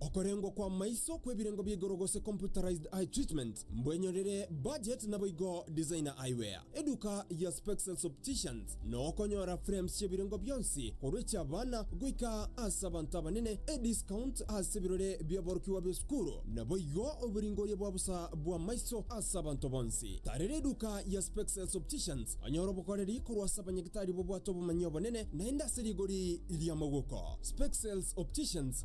Okorengwa kw'amaiso kw'ebirengo bia igoro gose computerized eye treatment mbwenyorere budget naboigo Designer Eyewear, eduka ya Spexels Opticians na okonyora frames chi'ebirengo bionsi korwa echi'abana goika ase abanto abanene, ediscount ase ebirore bi'aborokigwa b'esukuru naboigo oboringoria bwa bosa bw'amaiso ase abanto bonsi. Tarera eduka ya Spexels Opticians onyore obokoreri korwa ase abanyagitari bobwate obomanyi obonene naende ase rigori ri'amagoko. Spexels Opticians.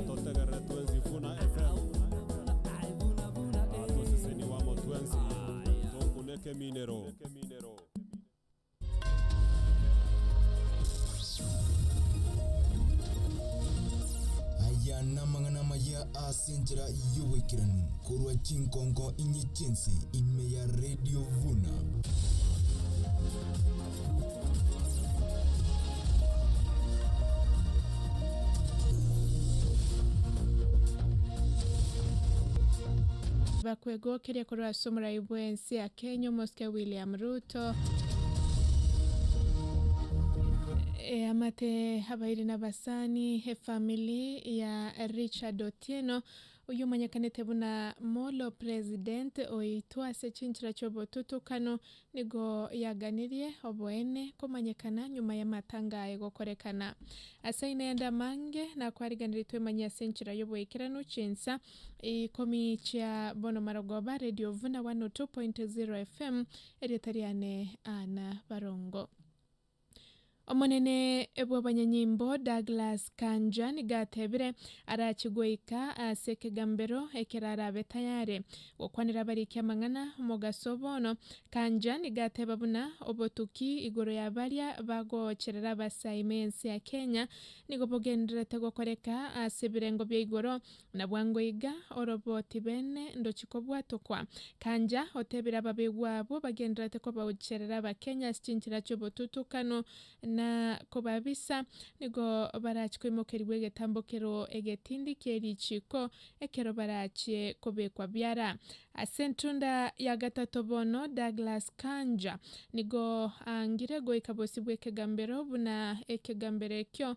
Atotegerere twensi Funa FM Atoseseni wamo twensi Tokuna ekeminero. Aya namang'ana amaya ase enchera y'oboikeranu korwa chinkonko inye chi'ense ime ya Radio Vuna. Bakwegokeria korwa ase omorai bw'ense ya Kenya, Omosike William Ruto. Eamate abairi na abasani efamili ya Richard Otieno, oyio omanyekanete buna Molo President oitwa ase chinchera chi'obotutukano Nigo yaganirie oboene komanyekana nyuma y'amatanga aye gokorekana. Ase aino yande amange nakwariganiretwe manye ase enchera y'oboikeranu chinsa ikomi chia bono marogoba Radio of na 102.0 FM erieta riane Anna Barongo. Omonene bw'abanyanyimbo Douglas Kanja nigo atebire arache goika ase ekegambero ekero arabe tayare gokwanera abariki amang'ana. Omogaso bono, Kanja nigo ateba buna obotuki igoro ya baria bagoocherera abasaime ense ya Kenya nigo bogendererete gokoreka ase ebirengo bia igoro Na bwango iga orobo tibeene ndochi kobwatokwa. Kanja otebire ababegwa abo bagendererete kobaocherera Abakenya ase chinchera chi'obotutukano na kobabisa, nigo barachie koimokerigwa egetambo kero egetindi kie richiiko ekero barachie kobekwa biara. Ase entunda ya gatato bono Douglas Kanja nigo aangire goika bosio bw'ekegambero buna ekegambero ekio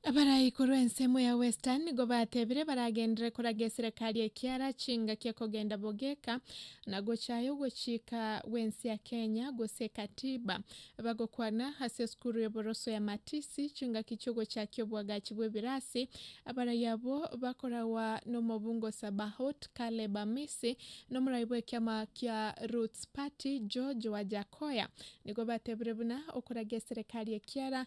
Abare igoro ensemo ya Western nigo batebire baragenderere koraga eserekari ekiara chingaki ekogenda bogeka na gochaya ogochika gw'ense ya Kenya gose ekatiba. Bagokwana ase esukuru y'oboroso ya Matisi chingaki chi'ogochakia obwagachi bw'ebirasi abarai abwo bakoragwa n'omobungo Sabaot Caleb Amisi na omorai bw'ekiama kia Roots Party George Wajackoyah nigo batebire buna okoraga eserekari ekiara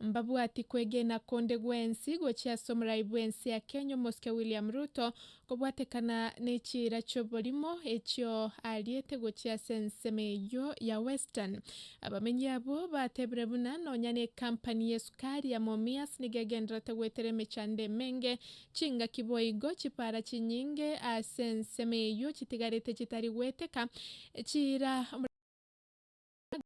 Mbabwati kwegena konde gwensi gochia ase omorai bw'ense ya Kenya omosike William Ruto kobwatekana nechiira chi'oborimo echio aariete gochia ase ensemo eyio ya Western. Abamenyi abwo batebire buna nonya nekampani yesukari ya Mumias nigo egendererete goetera emechando emenge, chingaki boigo chipaara chinyinge ase ensemo eyio chitigarete chitari goeteka echiira omorembe bw'ense.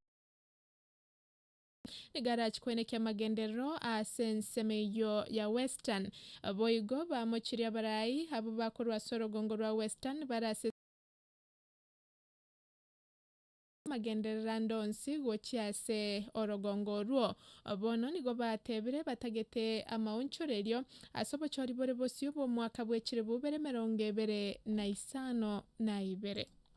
Nigo arachie koenekia amagenderero ase ensemo eyio ya Western. Boigo bamochirie abarai abwo bakorwa ase orogongo rwa Western bare ase amagenderero ande onsi gochia ase orogongo orwo. Bono nigo batebire batagete amaonchorerio ase obochori bore bosio bw'omwaka bw'echiribu bere emerongo ebere na isano na ibere.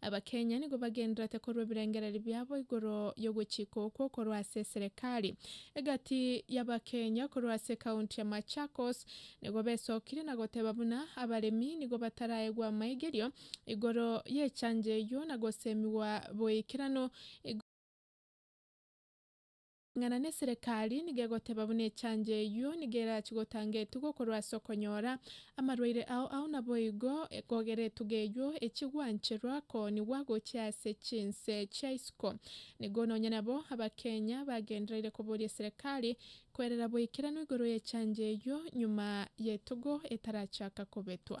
Abakenya nigo bagenderete korwa ebirengererio biabo igoro y'ogwechika okwo korwa ase eserekari egati y'Abakenya korwa ase ekaunti ya Machakos nigo besokirie na goteba buna abaremi nigo bataraegwa amaigerio igoro y'echanjo eyio na gosemigwa boikeranu igoro Ng'ana neserekari nigo egoteba buna echanjo eyio nigo erachi gotanga etugo korwa ase okonyora amarwaire ao ao naboigo kogera etugo eyio echie gwancherwa koonigwa gochia ase chinse chia isiko nigo nonya nabo abakenya bagendereire koboria eserekari koerera boikeranu igoro yechanjo eyio nyuma yetugo etarachaka kobetwa.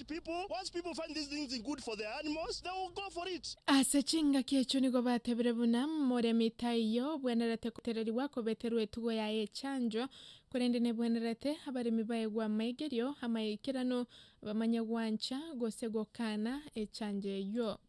wicked people, once people find these things in good for their animals, they will go for it. Ase chingaki echo nigo batebire buna moremi taiyo obwenerete kotererigwa kobeterwa etugo yaye echancho, korende nebwenerete abaremi baegwe amaigerio amaikeranu, bamanye gwancha gose gokana echancho eyio.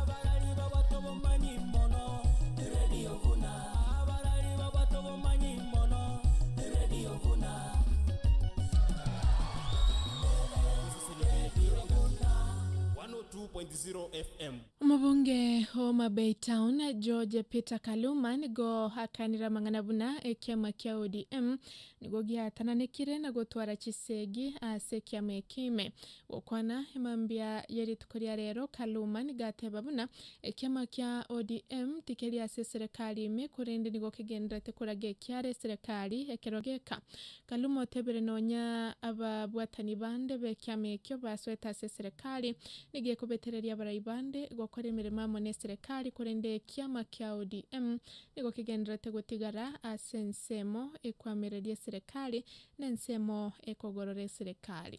Abarari babwate obomanyi mono, eredio buna. Abarari babwate obomanyi mono, eredio buna. Eredio buna. 102.0 FM. Omobunge o Homa Bay Town, George Peter Kaluma nigo akanire amang'ana buna ekiama kia ODM nigo giatananekire na gotwara chisegi ase ekiama eke ime Gokwana mambia ye rituko ria rero, Kaluma nigo ateba buna ekiama kia ODM tikeri ase eserekari ime korende nigo kegenderete koraga ekiare eserekari ekero geka. Kaluma otebire nonya ababwatani bande bekiama ekio basoete ase eserekari nigo ekobetereria abarai bande gokora emeremo amo neserekari korende ekiama kia ODM nigo kegenderete gotigara ase ensemo ekwamereria eserekari nensemo ekogorora eserekari.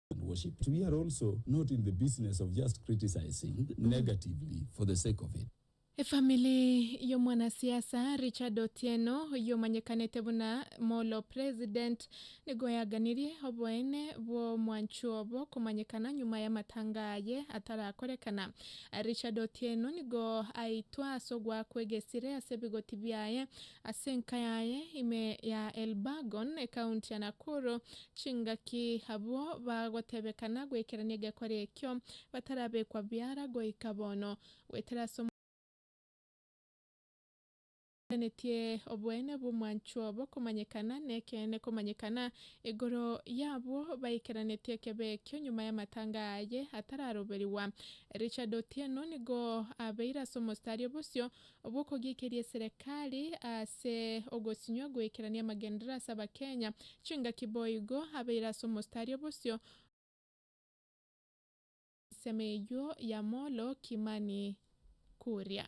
and worship. We are also not in the business of just criticising negatively for the sake of it. Efamili y'omwanasiasa Richard Otieno oyomanyekanete buna Molo President nigo yaganirie oboene bw'omwancho obo komanyekana nyuma y'amatanga aye atarakorekana. Richard Otieno nigo aitwa ase ogoakwa egesire ase ebigoti biaye ase enka yaye ime ya Elburgon, ekaunti ya Nakuru, Chingaki abwo bagotebekana goikerania egekore ekio batarabekwa biara goika bono, goetera ase omochie otenetie oboene bw'omwanchwa bw'okomanyekana nekeene komanyekana igoro y'abwo baikeranetie ekebe ekio nyuma y'amatanga aye atararoberigwa. Richard Otieno nigo abeire ase omostari o bosio. bw'okogiikeria eserekari ase ogosinywa goikerania amagenderera ase Abakenya, chingaki boigo abeire ase omostari o bosio. Ensemo eyio ya Molo Kimani Kuria.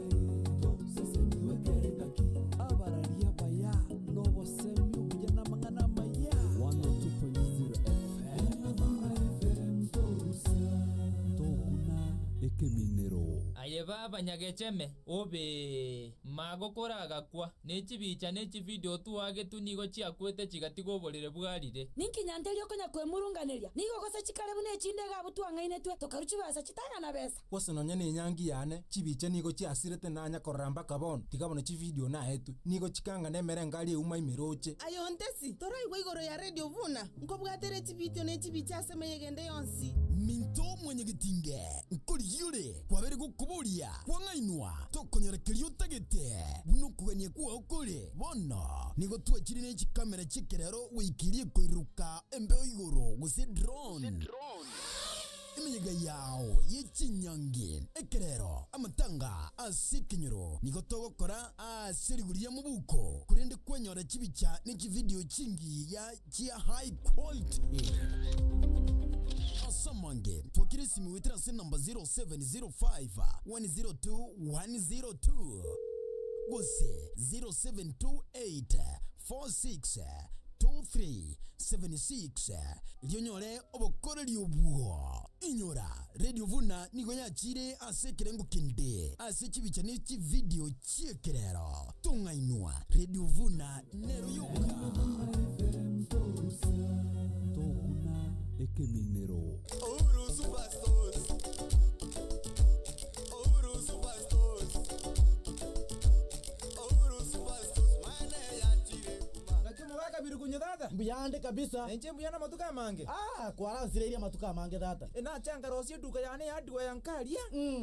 Aye baba nyagecheme obee. Ma gokora agakwa. Ne chibicha ne chivideo otwagetwe nigo chiakwete chigatiga oborere bwarire. Ninki nyanteria okonya kwemurunganeria? Nigo gose chikare buna echinde iga abwo twang'ainetwe tokaru chibesa chitang'ana besa. Gose nonya nenyangi yane, chibicha nigo chiasirete nanya korora mpaka bono, tiga bono chivideo naetwe, nigo chikangana emerengari euma emerooche. Aye ontesi, toraigwe igoro ya radio buna nkobwatere chivideo ne chibicha ase emeyega ende yonsi. Minto mwanyagetinge, nkorigia ore kwabere gokoboria kwang'ainwa, tokonyora keria otagete, buna okogania kwao kore. Bono nigo twachire ne chikamera chi'ekerero goika eria ekoiroka embeo igoro, gose drone. Emenyega yao ye chinyangi ekerero, amatanga ase ekenyoro nigo togokora ase rigori ya mobuko korende kwanyora chibicha ne chividio chingiya chia high quality. Ase amange twakire esimi goetera ase enamba 0705 102 102 gose 0728 four six two three seven six erio onyore obokoreri obwo. Inyora, Radio Vuna nigo yachiire ase ekerengo kende ase chibicha ne chividio chi'ekerero. Tong'ainwa, Radio Vuna nero yoka. tokuna ekeminero Uhuru Superstores. Uhuru Superstores. Naki omogakabiru konya tata. Mbuya ande kabisa. Nainche mbuya namatuko amange. Aah kwaransireirie amatuko amange tata. Enache ankarosie eduka yane ya hardware nkaria.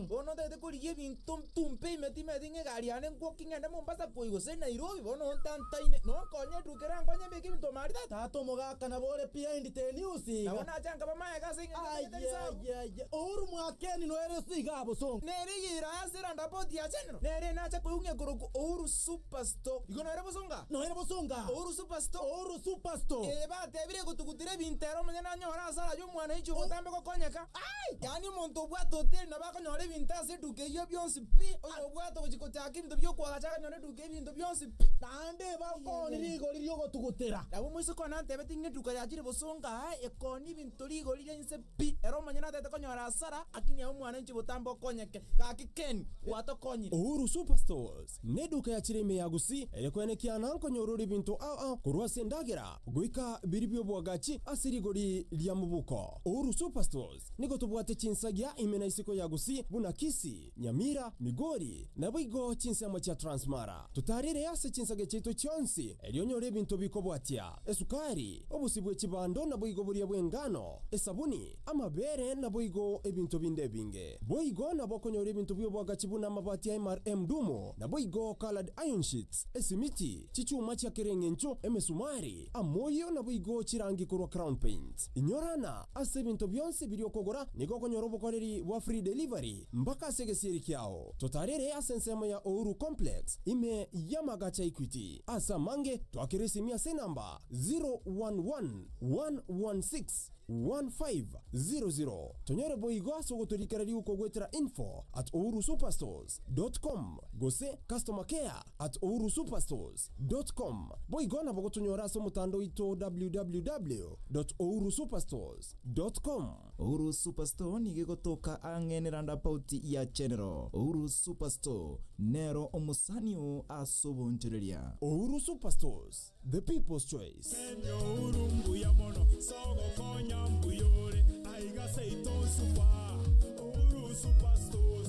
Bono ntagete korigia ebinto ntumpe ime timeti ng'a egari yane ngwoki ng'ende Mombasa koyi gose Nairobi bono ontantaine. Nonkonye eduka ere ankonye mbeke ebinto ime aria tata. Tata omogaka nabo ore behind the news iga. Nabo nache nkaba magega ase eng'encho ntagete risabu. Ayayaya. Uhuru mwakeni noereso iga abosongo. Nere eyerase erandapoti ya Senate. Nere nacha koigwa korokwa Ouru Supasto. Igo noire bosonga? Noire bosonga? Ouru Supasto. Ouru Supasto. Ee, batebire gotugutera ebinto ere omonye nanyore asare ayio omwana aiche ogotambe gokonyeka. Aye! Yaani omonto obwate hoteli nabo akonyora ebinto ase eduka eyio bionsi pi. Oyo obwate gochia gochaka ebinto bi'okoa agacha akanyora eduka y'ebinto bionsi pi. Naende bakoni rigori ri'ogotugutera. Nabo omoiseke one antebete ng'a eduka yachire bosonga aa ekonia ebinto rigori ri'ense pi. Pi, ere omonyene ataete konyora hasara, akini aye omwanenchi botambe okonyeke. Gaki Ken, gwatokonyire. Uhuru Superstores neduka ya chire ime ya Gusii eye kwenekiana nkonyorora ebinto ao ao korwa ase endagera goika biri biobwagachi ase rigori ria mobuko. Uhuru Superstores nigo tobwate chinsagia ime na isiko ya Gusii buna Kisii, Nyamira, Migori, naboigo chinsemo chia Transmara. Totarire ase chinsage chiaito chionsi, erio onyore ebinto bikobwatia, esukari, obosio bwe chibando naboigo boria bw'engano, esabuni, amabeere naboigo ebinto binde ebinge. Boigo nabo okonyora ebinto bi'obwagachi buna amabati a MRM Dumu, naboigo colored iron sheets, esimiti, chichuma chia kera eng'encho, emesumari, Amoyio naboigo chirangi korwa Crown Paints. Inyorana ase ebinto bionsi biria okogora, nigo okonyora obokoreri bwa free delivery mpaka ase egesieri kiao. Totarire ase ensemo ya Uhuru Complex ime y'amagacha Equity. Ase amange, twakera esimi ase enamba 0111161500. Tonyore boigo ase ogotorikera riko goetera info at uhurusuperstores.com gose customer care. at ourusuperstores. Com, boigo nabo gotonyora ase omotanda oito www. Ourusuperstores. Com. Ouru Superstore nigo egotoka ang'e ne roundabout ya General. Ouru Superstore nero omosani oo ase obonchoreria. Ouru Superstores, the people's choice. Kenya ouru mbuya mono sogokonya mbuya ore aiga seito super ouru super stores.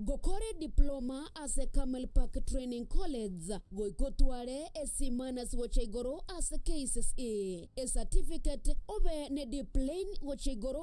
Ngokore diploma ase Carmel Park Training College, goika otware e C minus gochia igoro ase KCSE, e certificate, obe ne D plain gochia igoro.